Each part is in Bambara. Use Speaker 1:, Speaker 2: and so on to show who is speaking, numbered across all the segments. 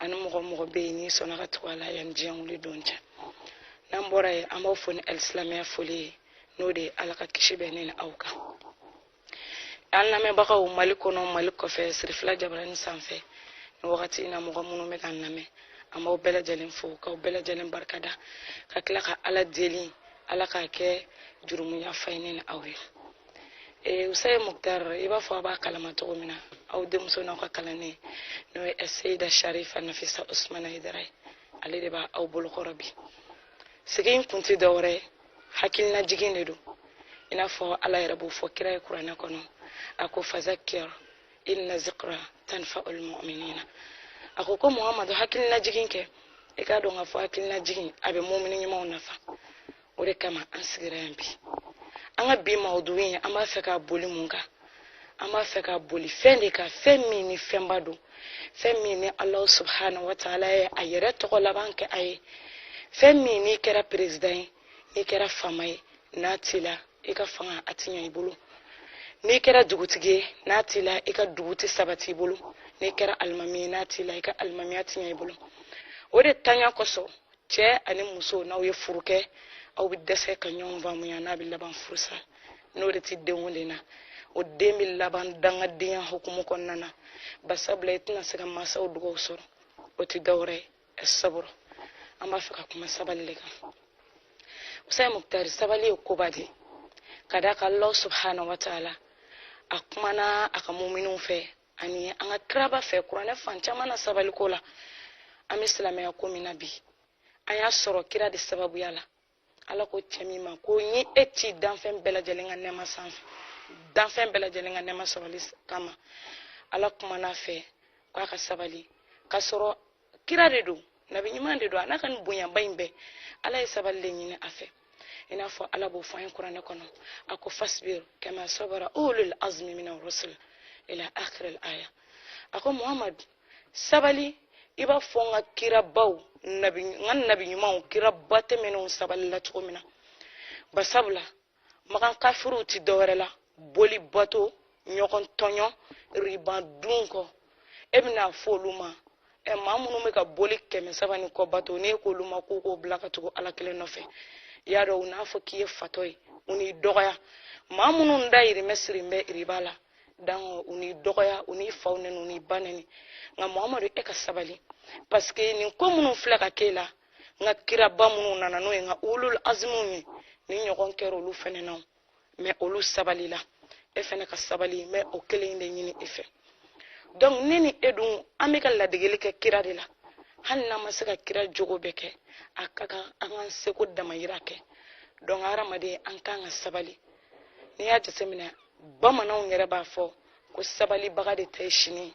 Speaker 1: ani mɔgɔ mɔgɔ bɛ yen n'i sɔnna ka tugu a la yanni diɲɛ wuli don cɛ n'an bɔra yen an b'aw fo ni alisilamɛya foli ye n'o de ye ala ka kisi bɛ ne ni aw kan an lamɛnbagaw mali kɔnɔ mali kɔfɛ sirifila jabarani sanfɛ ni wagati in na mɔgɔ minnu bɛ k'an lamɛn an b'aw bɛɛ lajɛlen fo k'aw bɛɛ lajɛlen barika da ka tila ka ala deli ala k'a kɛ jurumuyafa ye ne ni aw ye eh, usaye muktar i b'a fɔ a b'a kalama cogo min na aw denmuso n'aw ka kalanden n'o ye seyida sharifa nafisa usmana hayidara ye ale de b'aw bolokɔrɔ bi sigi in kun tɛ dɔwɛrɛ ye hakilina jigin de don i n'a fɔ ala yɛrɛ b'o fɔ kira ye kuranɛ kɔnɔ a ko fazakir inna zikra tanfaul muminina a ko ko muhamadu hakilina jigin kɛ i k'a dɔn k'a fɔ hakilina jigin a bɛ mumini ɲumanw nafa o de kama an sigira yan bi an ka bi mawudugu in an b'a fɛ ka boli mun kan an b'a fɛ ka boli fɛn de kan fɛn min ni fɛnba don fɛn min ni alahu subhanahu wa taala ye a yɛrɛ tɔgɔ laban kɛ a ye fɛn min n'i kɛra perezidan ye n'i kɛra faama ye n'a t'i la i ka fanga a ti ɲɛ i bolo n'i kɛra dugutigi ye n'a t'i la i ka dugu tɛ sabati i bolo n'i kɛra alimami ye n'a t'i la i ka alimamiya ti ɲɛ i bolo o de tanya kosɔn cɛ ani muso n'aw ye furu kɛ aw bɛ dɛsɛ ka ɲɔgɔn faamuya n'a bɛ laban furusa n'o de tɛ den o den na o den bɛ laban dangadenya hukumu kɔnɔna na basabula i tɛna se ka mansaw dugaw sɔrɔ o tɛ dɔwɛrɛ ye saburu an b'a fɛ ka kuma sabali de kan usaye muktar sabali ye koba de ka d'a kan alahu subhanahu wa taala a kumana a ka muminiw fɛ ani an ka kiraba fɛ kuranɛ fan caman na sabaliko la an bɛ silamɛya ko min na bi an y'a sɔrɔ kira de sababuya la ala ko cɛ min ma ko n ye e ci danfɛn bɛɛ lajɛlen ka nɛɛma sanfɛ danfɛn bɛɛ lajɛlen ka nɛɛma sɔrɔli kama ala kumana a fɛ k'a ka sabali k'a sɔrɔ kira de don nabi ɲuman de don a n'a ka nin bonyaba in bɛɛ ala ye sabali de ɲini a fɛ i n'a fɔ ala b'o fɔ an ye kuranɛ kɔnɔ a ko fasbir kama sabara ulul azmi mina rusul ila akhir al aya a ko muhammad sabali i b'a fɔ n ka kirabaw nabi ɲumanw kiraba tɛmɛnenw sabalila cogo min na basabula makan kafiriw ti dɔwɛrɛ la boli bato ɲɔgɔn tɔɲɔ riba dun ko e bɛna fɔ olu ma ɛ maa minnu bɛ ka boli kɛmɛ saba ni kɔ bato n'e k'olu ma k'u k'o bila ka tugu ala kelen nɔfɛ i y'a dɔn u n'a fɔ k'i ye fatɔ ye u n'i dɔgɔya maa minnu dayirimɛ siri bɛ riba la dango u n'i dɔgɔya u n'i faw nɛni u n'i ba nɛni nka muhamadu e ka sabali paseke nin ko minnu filɛ ka k'e la n ka kiraba minnu nana n'o ye n ka ulul azimuw ye nin ɲɔgɔn kɛra olu fɛnɛ na mais olu sabalila e fɛnɛ ka sabali n bɛ o kelen in de ɲini e fɛ donc ne ni e dun an bɛ ka ladegeli kɛ kira de la hali n'an ma se ka kira jogo bɛɛ kɛ a ka kan an k'an seko damayira kɛ donc hadamaden an kan ka sabali n'i y'a jateminɛ bamananw yɛrɛ b'a fɔ ko sabalibaga de ta ye sini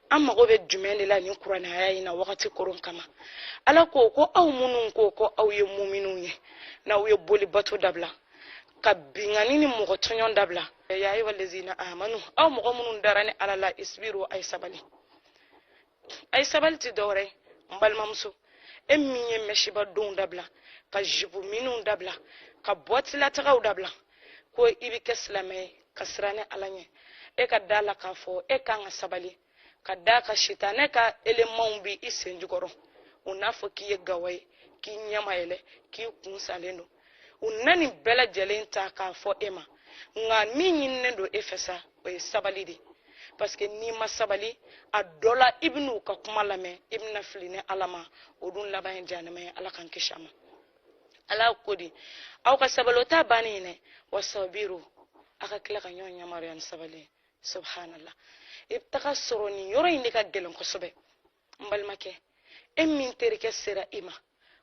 Speaker 1: an mago bɛ jumɛn de la nin kuranɛ aya in na wagati koron kama ala ko ko aw minnu ko ko aw ye muminw ye n'aw ye boli bato dabila ka binkanni ni mɔgɔ tɔɲɔn dabila ya ayyuha lazina amanu aw mɔgɔ minnu dara ni ala la isbiru a ye sabali a ye sabali tɛ dɔwɛrɛ n balimamuso e min ye mɛsiba don dabila ka jipu miniw dabila ka bɔtilatagaw dabila ko i bɛ kɛ silamɛ ye ka siran ni ala ɲɛ e ka d'a la k'a fɔ e kan ka sabali ka d'a kan sitanɛ ka elemanw bɛ i sen jukɔrɔ u n'a fɔ k'i ye gawa ye k'i ɲɛ ma yɛlɛ k'i kun salen don u na nin bɛɛ lajɛlen ta k'a fɔ e ma nka min ɲininen don e fɛ sa o ye sabali de parce que n'i ma sabali a dɔ la i bɛna u ka kuma lamɛn i bɛna fili ni ala ma o dun laban ye jahanama ye ala k'an kisi a ma ala ko di aw ka sabali o t'a bannen ye dɛ wasabiru a ka tila ka ɲɔgɔn yamaruya ni sabali ye subhanallah i bɛ taga sɔrɔ nin yɔrɔ in de ka gɛlɛn kosɛbɛ n balimakɛ e min terikɛ sera i ma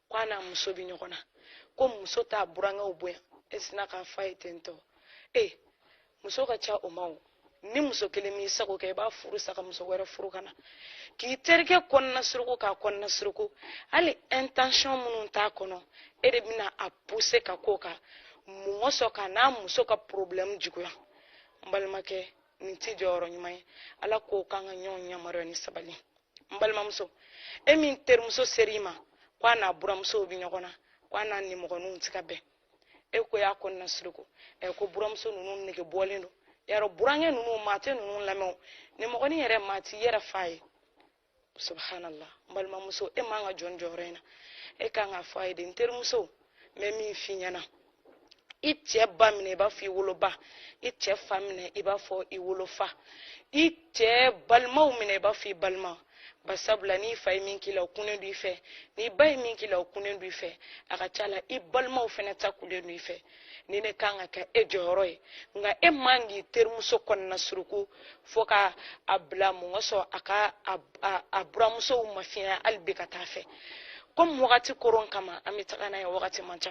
Speaker 1: ko a n'a muso bɛ ɲɔgɔn na ko muso t'a burankɛw bonya e sinna k'a fɔ a ye ten tɔ ee muso ka ca o ma o ni muso kelen m'i sago kɛ i b'a furu sa ka muso wɛrɛ furu ka na k'i terikɛ kɔnɔna suruku k'a kɔnɔna suruku hali intention minnu t'a kɔnɔ e de bɛna a pousser ka ko kɛ min sɔn k'a n'a muso ka problème juguya n balimakɛ nin tɛ jɔyɔrɔ ɲuman ye ala ko k'an ka ɲɔgɔn yamaruya ni sabali n balimamuso e min terimuso ser'i ma ko a n'a buramusow bɛ ɲɔgɔn na ko a n'a nimɔgɔninw tɛ ka bɛn e ko y'a kɔnɔna suruku ɛ ko buramuso ninnu nege bɔlen don yarɔ burankɛ ninnu maa tɛ ninnu lamɛn nimɔgɔnin yɛrɛ maa t'i yɛrɛ fa ye subhanallah n balimamuso e man ka jɔ nin jɔyɔrɔ in na e kan k'a fɔ a ye de n terimuso n bɛ min f'i ɲɛna i cɛ ba minɛ i b'a fɔ i woloba i cɛ fa minɛ i b'a fɔ i wolofa i cɛ balimaw minɛ i b'a fɔ i balima ba sabula n'i fa ye min k'i la o kunnen don i fɛ n'i ba ye min k'i la o kunnen don i fɛ a ka ca la i balimaw fana ta kunnen don i fɛ nin de kan ka kɛ e jɔyɔrɔ ye nka e man k'i terimuso kɔnɔna suruku fo ka a bila mun ka sɔrɔ a ka a buramusow mafiɲɛ hali bi ka taa fɛ komi wagati koron kama an bɛ taga n'a ye wagati man ca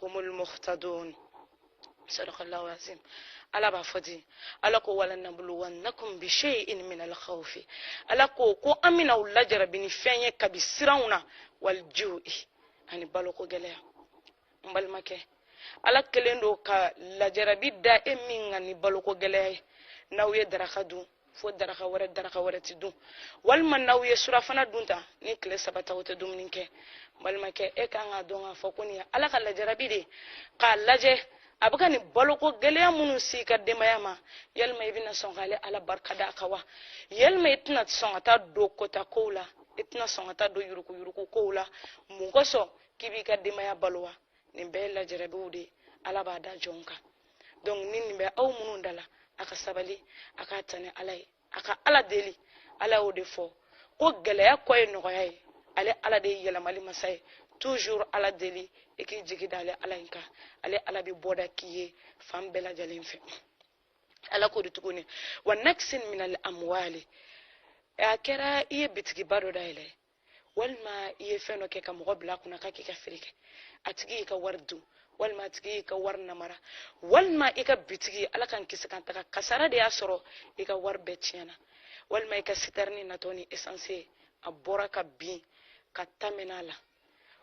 Speaker 1: humul muhtadun sadaqallahu azim ala b'a fɔ ten ala ko walanabuluwannakum bishai'in min alkhawfi ala ko ko an bɛna aw lajarabi ni fɛn ye kabi siranw na walju'i ani baloko gɛlɛya n balimakɛ ala kɛlen don ka lajarabi da e min kan ni baloko gɛlɛya ye n'aw ye daraka dun fo daraka wɛrɛ daraka wɛrɛ ti dun walima n'aw ye surafana dun ta ni tile saba ta o tɛ dumuni kɛ balimakɛ e kan k'a dɔn k'a fɔ ko nin ye ala ka lajarabi de k'a lajɛ a bɛ ka nin baloko gɛlɛya minnu s'i ka denbaya ma yalima i bɛna sɔn k'ale ala barika da a kan wa yalima i tɛna sɔn ka taa don kota kow la i tɛna sɔn ka taa don yurukuyuruku kow la mun kosɔn k'i b'i ka denbaya balo wa nin bɛɛ ye lajarabiw de ye ala b'a da jɔn kan donc ni nin bɛ aw minnu da la a ka sabali a k'a ta ni ala ye a ka ala deli ala y'o de fɔ ko gɛlɛya kɔ ye nɔgɔya ye ale ala de ye yɛlɛmali masa ye toujours ala deli i k'i jigi da ale ala in kan ale ala bɛ bɔda k'i ye fan bɛɛ lajɛlen fɛ ala ko di tuguni wa naqsin minal amwali a kɛra i ye bitigiba dɔ dayɛlɛ walima i ye fɛn dɔ kɛ ka mɔgɔ bila a kunna k'a k'i ka feere kɛ a tigi y'i ka wari dun walima a tigi y'i ka wari namara walima i ka bitigi ala k'an kisi k'an tanga kasara de y'a sɔrɔ i ka wari bɛɛ tiɲɛna walima i ka sitɛrini natɔ ni essence ye a bɔra ka bin ka ta mɛn'a la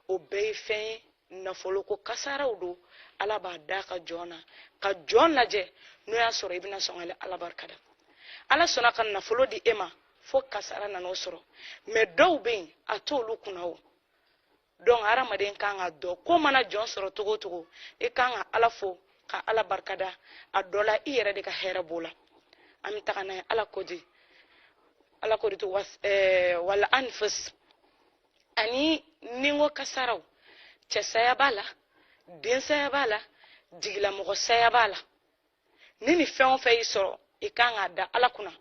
Speaker 1: o bɛɛ ye fɛn ye nafoloko kasaraw don ala b'a d'a ka jɔn na ka jɔn lajɛ n'o y'a sɔrɔ i bɛna sɔn ka ala barika da ala sɔnna ka nafolo di e ma fo kasara nan'o sɔrɔ mais dɔw bɛ yen a t'olu kunna o donc hadamaden kan k'a dɔn ko mana jɔn sɔrɔ cogo o cogo i kan ka ala fo ka ala barika da a dɔ la i yɛrɛ de ka hɛrɛ b'o la an bɛ taga n'a ye ala ko di ala ko di to wal anfus ani ninko kasaraw cɛsaya b'a la densaya b'a la jigilamɔgɔ saya b'a la ni nin fɛn o fɛn y'i sɔrɔ i kan k'a da ala kunna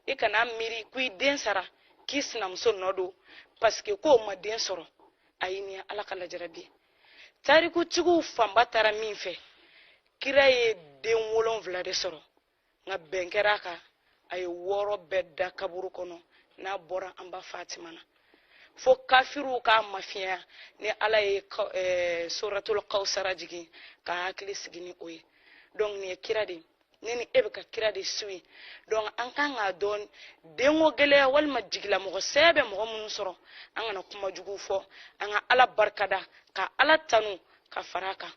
Speaker 1: i kana miiri ko i den sara k'i sinamuso nɔ don parce que k'o ma den sɔrɔ ayi nin ye ala ka lajarabi tarikutigiw fanba taara min fɛ kira ye den wolonwula de sɔrɔ nka bɛn kɛra a kan a ye wɔɔrɔ bɛɛ da kaburu kɔnɔ n'a bɔra an ba fatima na fo kafiriw k'a mafiɲɛya ni ala ye eh, suratul kawsara jigin k'a hakili sigi ni o ye donc nin ye kira de ye ne ni e bɛ ka kira de suivre donc an kan k'a dɔn denko gɛlɛya walima jigilamɔgɔ saya bɛ mɔgɔ minnu sɔrɔ an kana kuma jugu fɔ an ka ala barika da ka ala tanu ka fara a kan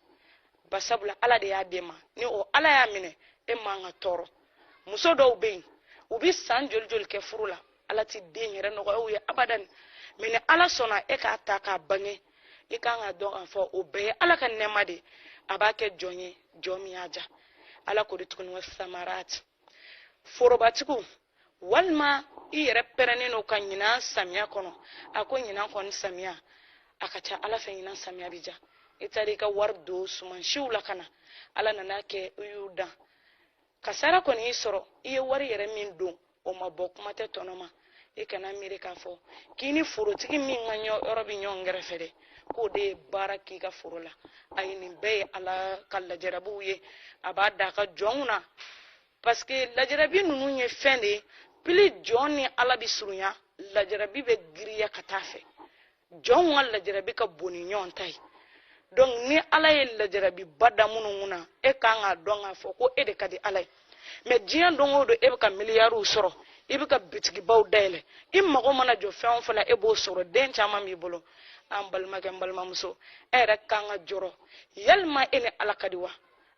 Speaker 1: ba sabula ala de y'a d'e ma ni o ala y'a minɛ e man ka tɔɔrɔ muso dɔw bɛ yen u bɛ san joli joli kɛ furu la ala tɛ den yɛrɛ nɔgɔya u ye abadan mais ni ala sɔnna e k'a ta k'a bange i kan k'a dɔn k'a fɔ o bɛɛ ye ala ka nɛɛma de a b'a kɛ jɔn ye jɔn min y'a diya ala ko di tuguni wa samarati forobatigiw walima i yɛrɛ pɛrɛnnen don ka ɲinan samiya kɔnɔ a ko ɲinan kɔni samiya a ka ca ala fɛ ɲinan samiya bi diya i taara i ka wari don sumansiw la ka na ala nan'a kɛ i y'u dan kasara kɔni y'i sɔrɔ i ye wari yɛrɛ min don o ma bɔ kuma tɛ tɔnɔ ma i kana miiri k'a fɔ k'i ni forotigi min ka yɔrɔ bɛ ɲɔgɔn kɛrɛfɛ dɛ k'o de ye baara k'i ka foro la ayi nin bɛɛ ye ala ka lajarabiw ye a b'a da a ka jɔnw na parce que lajarabi ninnu ye fɛn de ye plus jɔn ni ala bɛ surunya lajarabi bɛ giriya ka t'a fɛ jɔnw ka lajarabi ka bon ni ɲɔgɔn ta ye donc ni ala ye lajarabiba da minnu kun na e ka kan k'a dɔn k'a fɔ ko e de ka di ala ye mais diɲɛ don o don e bɛ ka miliyariw sɔrɔ i bɛ ka bitigibaw dayɛlɛ i mago mana jɔ fɛn o fɛn na e b'o sɔrɔ den caman b'i bolo an balimakɛ n balimamuso e yɛrɛ kan ka jɔrɔ yalima e ni ala ka di wa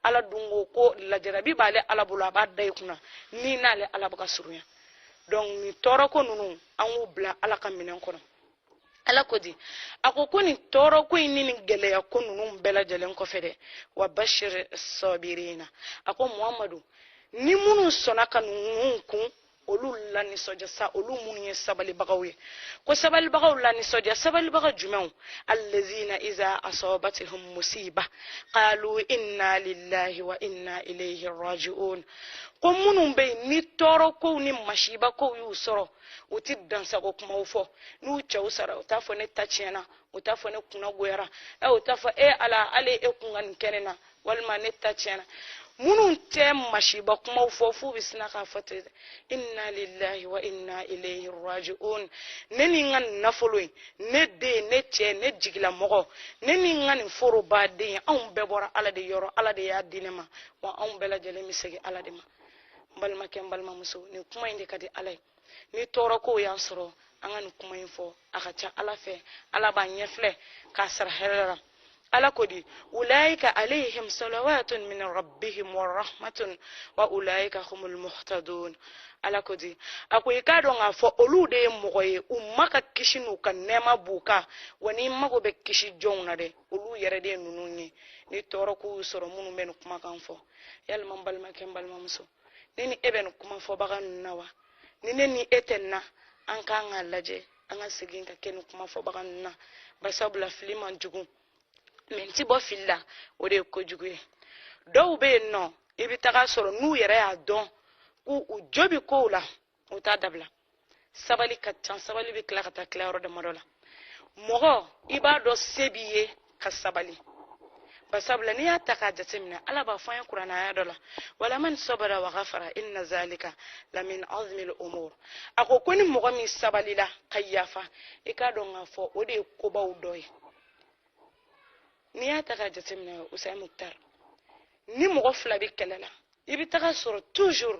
Speaker 1: ala dun ko ko lajarabi b'ale ala bolo a b'a da i kun na n'i n'ale ala bɛ ka surunya donc nin tɔɔrɔ ko ninnu an k'u bila ala ka minɛn kɔnɔ ala ko di a ko ko nin tɔɔrɔ ko in ni nin gɛlɛya ko ninnu bɛɛ lajɛlen kɔfɛ dɛ wa bashir sabirina a ko muhamadu ni minnu sɔnna ka ninnu kun olu lanisɔndiya sa olu minnu ye sabalibagaw ye ko sabalibagaw lanisɔndiya sabalibaga jumɛnw allazina iza asabathum musiba qalu inna lillahi wa inna ilayhi raji'un ko minnu bɛ yen ni tɔɔrɔ kow ni masiba kow y'u sɔrɔ u ti dansago kumaw fɔ n'u cɛw sara u t'a fɔ ne ta tiɲɛna u t'a fɔ ne kunna goyara ɛ u t'a fɔ e ala ale e kun ka nin kɛ ne na walima ne ta tiɲɛna minnu tɛ masiba kumaw fɔ f'u bɛ sina k'a fɔ ten inna lillahi wa inna ilayhi raji'un ne ni n ka nin nafolo in ne den ne cɛ ne jigilamɔgɔ ne ni n ka nin foroba dɛ anw bɛɛ bɔra ala de yɔrɔ ala de y'a di ne ma wa anw bɛɛ lajɛlen bɛ segin ala de ma n balimakɛ n balimamuso nin kuma in de ka di ala ye ni tɔɔrɔ kow y'an sɔrɔ an ka nin kuma in fɔ a ka ca ala fɛ ala b'a ɲɛfilɛ k'a sara hɛrɛ la ala ko di ulaika alayhim salawatun min rabbihim wa rahmatun wa ulaika humul muhtadun ala ko di a ko i k'a dɔn k'a fɔ olu de ye mɔgɔ ye u maa ka kisi n'u ka nɛɛma b'u kan wa n'i mago bɛ kisi jɔnw na dɛ olu yɛrɛ de ye ninnu ye ni tɔɔrɔ k'u sɔrɔ minnu bɛ nin kumakan fɔ yalima n balimakɛ n balimamuso ne ni e bɛ nin kuma fɔbaga ninnu na wa ni ne ni e tɛ nin na an kan k'a lajɛ an ka segin ka kɛ nin kuma fɔbaga ninnu na basabula fili man jugu mais n ti bɔ fili la o de ye kojugu ye dɔw bɛ yen nɔ i bɛ taga sɔrɔ n'u yɛrɛ y'a dɔn k'u u jo bɛ ko la o t'a dabila sabali ka can sabali bɛ tila ka taa tila yɔrɔ damadɔ la mɔgɔ i b'a dɔn se b'i ye ka sabali basabula n'i y'a ta k'a jateminɛ ala b'a fɔ an ye kurana aya dɔ la walaman sabara wa ghafara inna zalika lamin azmil umur a ko ko ni mɔgɔ min sabalila ka yafa i k'a dɔn k'a fɔ o de ye kobaw dɔ ye n'i y'a ta k'a jateminɛ usain muktar ni mɔgɔ fila bɛ kɛlɛ la i bɛ taga sɔrɔ toujours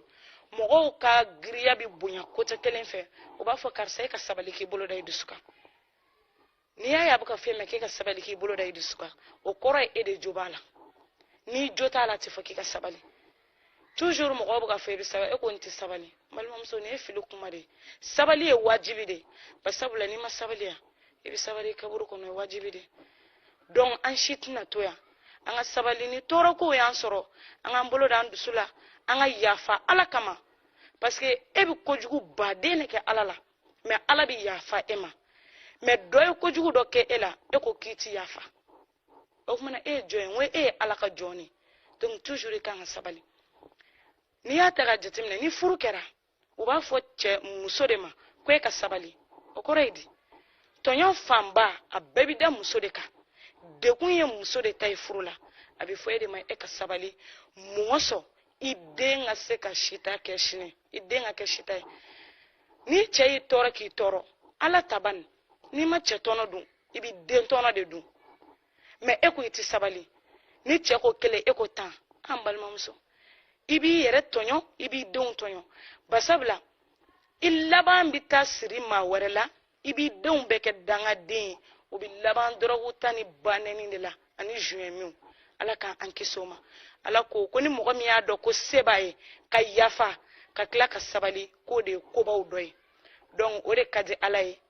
Speaker 1: mɔgɔw ka giriya bɛ bonya côté kelen fɛ u b'a fɔ karisa e ka sabali k'i bolo da i dusu kan n'i y'a ye a bɛ k'a fɔ e ma k'e ka sabali k'i bolo da i dusu kan o kɔrɔ ye e de jo b'a la n'i jo t'a la a tɛ fɔ k'i ka sabali toujours mɔgɔw bɛ k'a fɔ i bɛ sabali e ko n tɛ sabali balimamuso nin ye fili kuma de ye sabali ye wajibi de ye basabula n'i ma sabali yan i bɛ sabali i kaburu kɔnɔ o ye wajibi de ye donc an si tɛna to yan an ka sabali ni tɔɔrɔkow y'an sɔrɔ an k'an bolo da an dusu la an ka yafa ala kama parce que e bɛ kojugu baden de kɛ ala la mais ala bɛ yafa e ma mais dɔ ye kojugu dɔ kɛ e la e ko k'i ti yafa o tuma na e ye jɔn ye n ko e ye ala ka jɔn de donc toujours i kan ka sabali n'i y'a ta k'a jateminɛ ni furu kɛra u b'a fɔ cɛ muso de ma ko e ka sabali o kɔrɔ ye di tɔɲɔ fanba a bɛɛ bi da muso de kan degun ye muso de ta ye furu la a bɛ fɔ e de ma e ka sabali muso sɔn i den ka se ka sita kɛ sini i den ka kɛ sita ye ni cɛ y'i tɔɔrɔ k'i tɔɔrɔ ala t'a ban n'i ma cɛ tɔnɔ dun i bɛ den tɔnɔ de dun mais e ko i tɛ sabali ni cɛ ko kelen e ko tan an balimamuso i b'i yɛrɛ tɔɲɔ i b'i denw tɔɲɔ basabula i laban bɛ taa siri maa wɛrɛ la i b'i denw bɛɛ kɛ dangaden ye o bɛ laban dɔrɔgu ta ni banɛni de la ani zuɲɛmiw ala k'an kisi o ma ala ko ko ni mɔgɔ min y'a dɔn ko se b'a ye ka yafa ka tila ka sabali k'o de ye kobaw dɔ ye donc o de ka di ala ye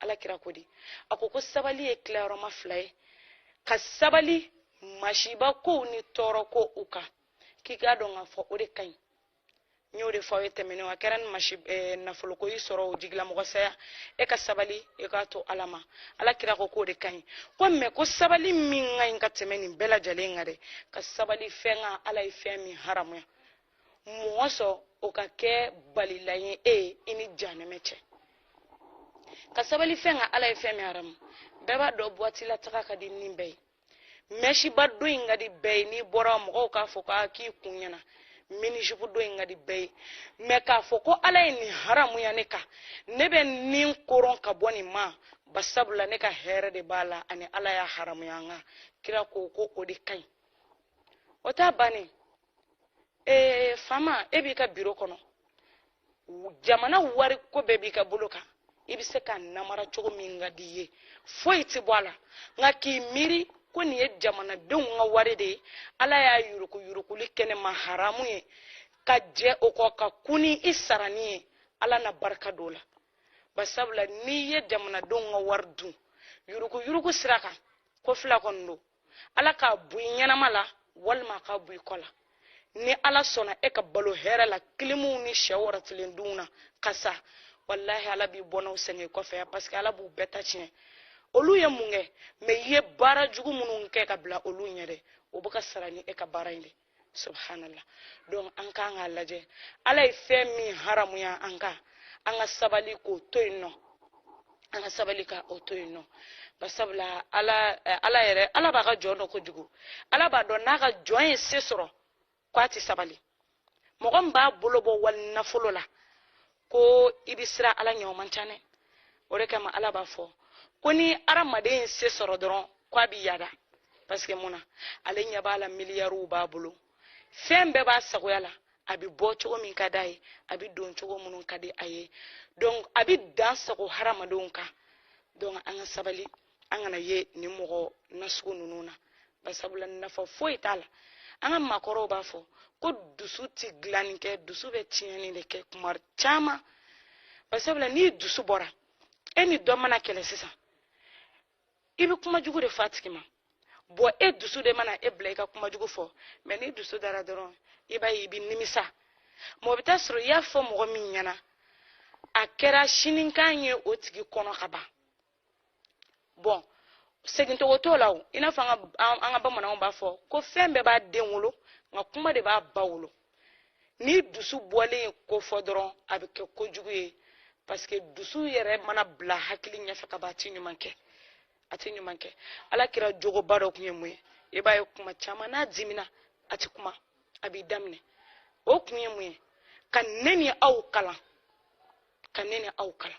Speaker 1: ala kira ko di a ko ko sabali ye tilayɔrɔma fila ye ka sabali masiba kow ni tɔɔrɔkow kan k'i k'a dɔn k'a fɔ o de ka ɲi n y'o de fɔ aw ye tɛmɛnenw a kɛra ni masi eh, nafoloko y'i sɔrɔ o jigilamɔgɔ saya e ka sabali e k'a to ala ma ala kira ko k'o de ka ɲi ko mais ko sabali min ka ɲi ka tɛmɛ nin bɛɛ lajɛlen kan dɛ ka sabali fɛn kan ala ye fɛn min haramuya mɔgɔ sɔn o ka kɛ balilan ye i ni janɛmɛ cɛ ka sabali fɛn kan ala ye fɛn min haramu bɛɛ b'a dɔn buwati la taga ka di ni bɛɛ ye mɛsiba don ka di bɛɛ ye n'i bɔra mɔgɔw k'a fɔ k'a k'i kun ɲɛna minizipu don ka di bɛɛ ye mɛ k'a fɔ ko ala ye nin haramuya ne kan ne bɛ n ni koron ka bɔ nin ma basabula ne ka hɛrɛ de b'a la ani ala y'a haramuya n kan kira ko ko o de ka ɲi o t'a bannen ee fama e b'i ka biro kɔnɔ jamana wari ko bɛɛ b'i ka bolo kan i bɛ se ka namara cogo min ka di i ye foyi tɛ bɔ a la nka k'i miiri ko nin ye jamanadenw ka wari de ye ala y'a yurukuyurukuli kɛ ne ma haramu ye ka jɛ o kɔ ka kun ni i sarani ye ala na barika don o la basabula n'i ye jamanadenw ka wari dun yurukuyuruku sira kan ko fila kɔni don ala k'a bɔ i ɲɛnama la walima a k'a bɔ i kɔ la ni ala sɔnna e ka balo hɛrɛ la kilimuw ni sɛ wɔrɔtilen dun na ka sa walahi ala b'i bɔnnaw sɛgɛn i kɔfɛ yan paseke ala b'u bɛɛ ta tiɲɛ olu ye mun kɛ mɛ i ye baara jugu minnu kɛ ka bila olu ɲɛ dɛ o bɛ ka sara ni e ka baara in de ye subhanallah donc an k'an k'a lajɛ ala ye fɛn min haramuya an kan an ka sabali k'o to yen nɔ an ka sabali ka o to yen nɔ basabula ala eh, ala yɛrɛ ala b'a ka jɔn dɔn kojugu ala b'a dɔn n'a ka jɔn ye se sɔrɔ ko a tɛ sabali mɔgɔ min b'a bolo bɔ wali nafolo la ko i bɛ siran ala ɲɛ o man ca dɛ o de kama ala b'a fɔ ko ni hadamaden ye se sɔrɔ dɔrɔn ko a bɛ yada paseke mun na ale ɲɛ b'a la miliyariw b'a bolo fɛn bɛɛ b'a sagoya la a bɛ bɔ cogo min ka d'a ye a bɛ don cogo minnu ka di a ye donc a bɛ dan sago hadamadenw kan donc an ka sabali an kana ye nin mɔgɔ nasugu ninnu na basabula nafa foyi t'a la an ka maakɔrɔw b'a fɔ ko dusu ti dilanni kɛ dusu bɛ tiɲɛni de kɛ kuma caman basabula n'i dusu bɔra e ni dɔ mana kɛlɛ sisan i bɛ kuma jugu de fɔ a tigi ma bɔn e dusu de mana e bila i ka kuma jugu fɔ mɛ n'i dusu dara dɔrɔn i b'a ye i bɛ nimisa mɔgɔ bɛ taa sɔrɔ i y'a fɔ mɔgɔ min ɲɛna a kɛra sinikan ye o tigi kɔnɔ ka ban bɔn segin tugun t'o la o i n'a fɔ an ka bamananw b'a fɔ ko fɛn bɛɛ b'a den wolo nka kuma de b'a ba wolo n'i dusu bɔlen ye ko fɔ dɔrɔn a bɛ kɛ ko jugu ye parce que dusu yɛrɛ mana bila hakili ɲɛfɛ ka ban a ti ɲuman kɛ a ti ɲuman kɛ ala kira jogoba dɔ tun ye mun ye i b'a ye kuma caman n'a dimina a ti kuma a b'i da minɛ o kun ye mun ye ka ne ni aw kalan ka ne ni aw kalan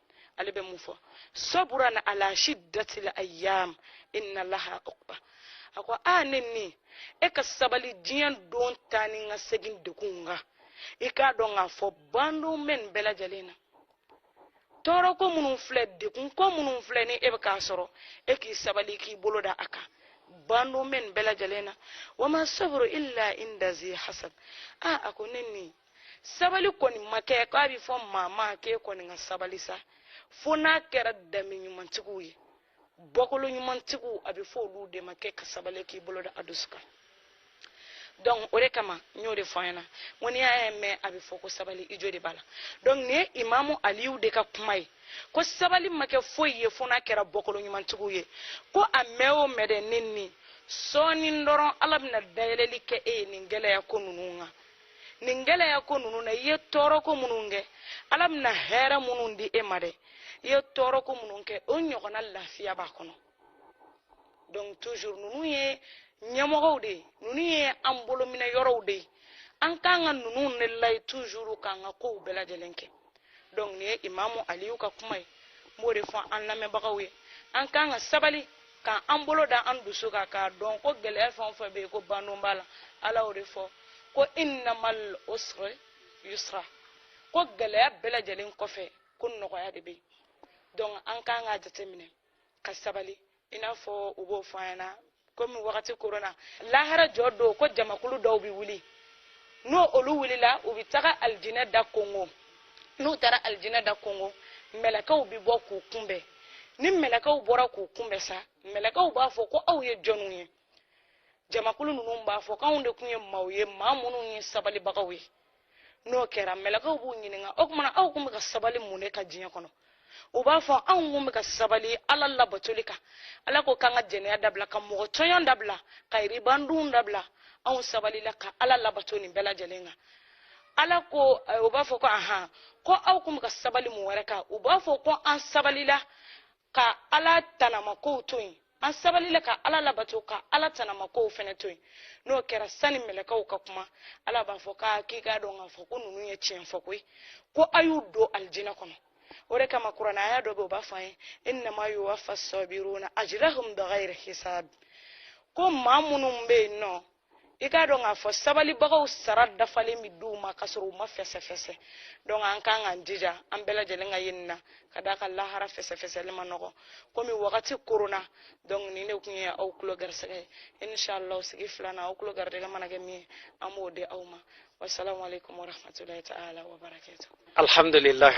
Speaker 1: ale bɛ mun fɔ sabran ala shiddatil ayyam inna laha uqba a ko a ne ni e ka sabali diɲɛ don taa ni ka segin degun kan i k'a dɔn k'a fɔ bandon bɛ nin bɛɛ lajɛlen na tɔɔrɔ ko minnu filɛ degun ko minnu filɛ ni e bɛ k'a sɔrɔ e k'i sabali k'i bolo da a kan bandon bɛ nin bɛɛ lajɛlen na wa ma sabru illa inda zi hasab a a ko ne ni sabali kɔni ma kɛ k'a bɛ fɔ maa ma k'e kɔni ka sabali sa fo n'a kɛra danbe ɲumantigiw ye bɔkolo ɲumantigiw a bɛ fɔ olu de ma k'e ka sabali k'i bolo da a dusu kan donc o de kama n y'o de fɔ an ɲɛna ko n'i y'a mɛn a bɛ fɔ ko sabali i jo de b'a la donc nin ye imamu aliyu de ka kuma ye ko sabali ma kɛ foyi ye fo n'a kɛra bɔkolo ɲumantigiw ye ko a mɛn o mɛn dɛ ne ni sɔɔni dɔrɔn ala bɛna dayɛlɛli kɛ e ye nin gɛlɛya ko ninnu kan nin gɛlɛya ko ninnu na i ye tɔɔrɔ ko minnu kɛ ala bɛna hɛrɛ minnu di e ma dɛ i ye tɔɔrɔ ko minnu kɛ o ɲɔgɔnna lafiya b'a kɔnɔ donc toujours ninnu ye ɲɛmɔgɔw de ye ninnu ye an bolominɛ yɔrɔw de ye an kan ka ninnu de layi toujours k'an ka kow bɛɛ lajɛlen kɛ donc nin ye imamu aliyu ka kuma ye n b'o de fɔ an lamɛnbagaw ye an kan ka sabali ka an bolo da an dusu kan k'a dɔn ko gɛlɛya fɛn o fɛn bɛ yen ko bandon b'a la ala y'o de fɔ ko innamal usri yusra ko gɛlɛya bɛɛ lajɛlen kɔfɛ ko nɔgɔya de bɛ yen donc an kan k'a jateminɛ ka sabali i n'a fɔ u b'o fɔ an ɲɛna komi wagati koronna lahara jɔ don ko jamakulu dɔw bɛ wuli n'olu wulila u bɛ taga alijinɛ da konkon n'u taara alijinɛ da konkon mɛlɛkɛw bɛ bɔ k'u kunbɛn ni mɛlɛkɛw bɔra k'u kunbɛn sa mɛlɛkɛw b'a fɔ ko aw ye jɔnw ye jamakulu ninnu b'a fɔ k'anw de tun ye maaw ye maa minnu ye sabalibagaw ye n'o kɛra mɛlɛkɛw b'u ɲininka o tuma na aw tun bɛ ka sabali mun de kan diɲɛ kɔnɔ u b'a fɔ anw tun bɛ ka sabali ala labatoli kan ala ko k'an ka jɛnɛya dabila ka mɔgɔ tɔɲɔn dabila ka riba dun dabila anw sabalila ka ala labato nin bɛɛ lajɛlen kan ala ko eh, u b'a fɔ ko ahan ko aw tun bɛ ka sabali mun wɛrɛ kan u b'a fɔ ko an sabalila ka ala tanamakow to yen an sabalila ka ala labato ka ala tanamakow fɛnɛ to yen n'o kɛra sani mɛlɛkɛw ka kuma ala b'a fɔ k'a k'i k'a dɔn k'a fɔ ko ninnu ye tiɲɛ fɔ koyi ko a y'u don alijinɛ kɔnɔ o de kama kuranɛ aya dɔ bɛ o b'a fɔ an ye innama yuwaffa sabiruna ajrahum bigayri hisab ko maa minnu bɛ yen n'o i k'a dɔn k'a fɔ sabalibagaw sara dafalen bɛ di u ma k'a sɔrɔ u ma fɛsɛfɛsɛ donc an kan k'an jija an bɛɛ lajɛlen ka ye nin na ka d'a kan lahara fɛsɛfɛsɛli man nɔgɔ komi wagati koronna donc nin de tun ye aw tulo garisɛgɛ ye inshallah sigi filanan aw tulo garijɛgɛ mana kɛ min ye an b'o di aw ma wasalamu aleykum warahmatulahi
Speaker 2: taala
Speaker 1: wabarakatu alhamdulilahi